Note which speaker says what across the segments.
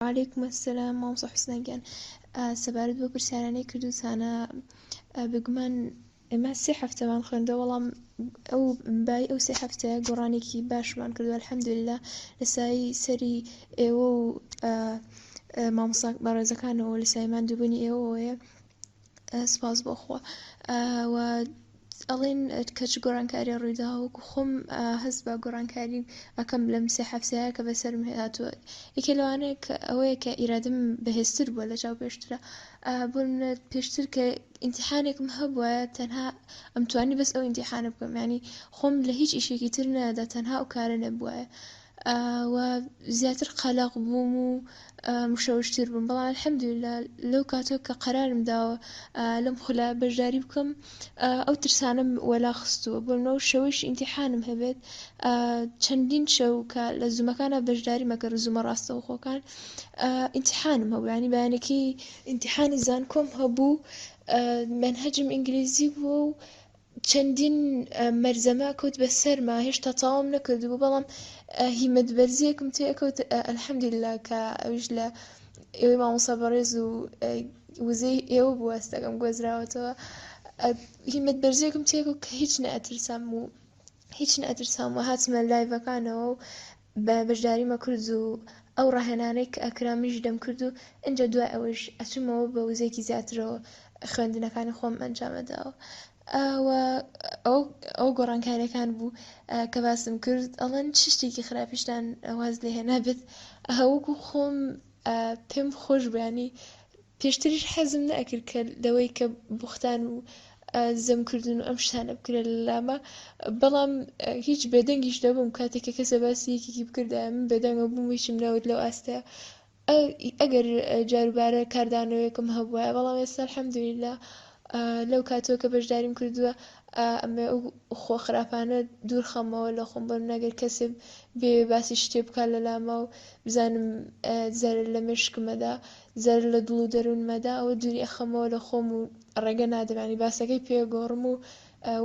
Speaker 1: وعلیکم السلام مامۆستا حسنە گیان سەبارەت بۆ پرسیارانەی کردوتانە بگومان ئێمە سێ هەفتەمان خوێندە وەڵام ئەو بای ئەو سێ هەفتەیە گۆڕانێکی باشمان کردووە الحەمدللا لە سایی سەری ئێوە و مامۆساک بەڕێزەکانەوە لە سایمان دووبنی ئێوەیە سپاس بۆ خوا و ئەڵێن کەچ گۆڕانکاری ڕوویدا وەکو خۆم هەست بە گۆڕانکاری ئەەکەم لەم سێ هەفتەیە کە بەسەرم هاتووە یەکێ لەوانەیە کە ئەوەیە کە ئیرادم بەهێزتر بووە لە چاو پێشترە بۆ منێت پێشتر کە ئینتیحانێکم هەبووە تەنها ئەمتوانی بەس ئەو ئینتیحانە بکەم ینی خۆم لە هیچ ئیشێکی تر نەدا تەنها ئەو کارە نەبووە و زیاتر قەلەق بووم و مشەوش تر بووم بەڵام الحمدللە لەو کاتەوە کە قەرارم داوە لەم خولە بەشداری بکەم ئەو ترسانەم وەلا خستووە بۆ نمونە شەوەیش ئینتیحانم هەبێت چەندین شەو کە لە زوومەکانە بەشداری مەکەن زوومە ڕاستەوخۆکان ئینتیحانم هەبوو ینی بەیانەکەی ئینتیحانی زانکۆم هەبوو منهجم ئینگلیزی بووە و چەندین مەرزەمە کەوت بە سەرما هێشتا تەواوم نەکردبوو بەڵام هیمەت بەرزیەکم تێکەوت الحمدللە کە ئەویش لە ئێوەی مامۆسا بەڕێز و وزەی ئێوە بوو هەستەکەم گۆزراوەتەوە هیمەت بەرزیەکم تێکەوت کە هیچ نەئەترسام و هیچ نەترسام و هاتمە لایڤەکانەوە و بە بەژداری مەکرد و ئەو ڕاهێنانەی کە ئەکرا منیش دەم کرد و ئینجا دوای ئەوەیش ئەچوومەوە بە وزەیەکی زیاترەوە خوێندنەکانی خۆم ئەنجام ئەداوە و ئەو ئەو گۆڕانکاریەکان بوو کە باسم کرد ئەڵەن چ شتێکی خراپیشتان واز لێ هێنابێت وەکو خۆم پێم خۆش بوو ینی پێشتریش حەزم نەئەکرد کە لەوەی کە بوختان و زەم کردن و ئەم شتانە بکرێت لە لامە بەڵام هیچ بێدەنگیش نەبووم کاتێک کە کەسە باسی یەکێکی بکردایە من بێدەنگە بووم هیچم نەوت لەو ئاستەیە ئەگەر جاروبارە کاردانەوەیەکم هەبووە بەڵام ئێستا الحەمدللە لەو کاتەوە کە بەشداریم کردووە ئەمێ خۆ خراپانە دوور خەمەوە لە خۆم بەم نەگەر کەسێ بێ باسی شتێ بکات لە لاما و بزانم زەرر لە مێشکمەدا زەرەر لە دڵ و دەروونمەدا ئەوە دووری ئەخەمەوە لە خۆم و ڕێگە نادەم یانی باسەکەی پێ گۆڕم و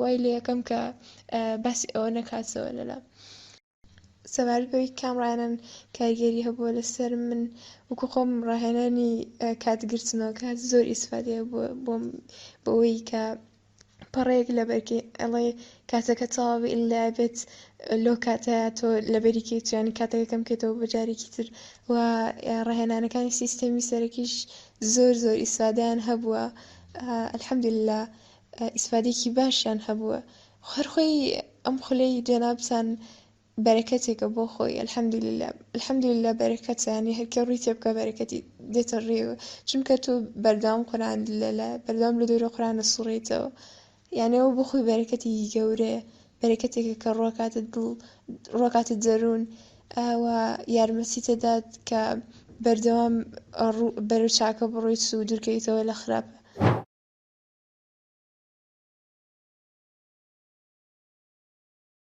Speaker 1: وای لێکەم کە باسی ئەوە نەکاتەوە لەلام. سەبارەت بەوەی کام ڕاهێنان کاریگەری هەبووە لەسەرم من وەکو خۆم ڕاهێنانی کات گرتنەوە کە زۆر ئیسفادەیە بۆم بۆ ئەوەی کە. پەڕەیەک لەبەرکەی ئەڵێ کاتەکە تەواو ئیللا بێت لۆ کاتە تۆ لەبەری کەیت یانی کاتەکە کەم کەیتەوە بۆ جارێکی تر و ڕاهێنانەکانی سیستەمی سەرەکیش زۆر زۆر ئیسفادەیان هەبووە الحمدللە ئیسفادێکی باشیان هەبووە هەر خۆی ئەم خولەی جەنابتان بەرەکەتێکە بۆ خۆی الحمدللە. الحمدللە بەرەکەتە یانی هەرکێ ڕوی تێبکا بەرەکەتی دێتە ڕێو چونکە تۆ بەردەوام قورئان لەلە بەردەوام لە دەورە قورئان ئەسوڕێیتەوە یانی ئەوە بۆ خۆی بەرەکەتێکی گەورەیە بەرەکەتێکە کە ڕۆکاتە دڵ ڕۆکاتە دەروون و یارمەتیت دەدات کە بەردەوام بەرەو چاکە بڕۆیت و دوورکەویتەوە لە خراپ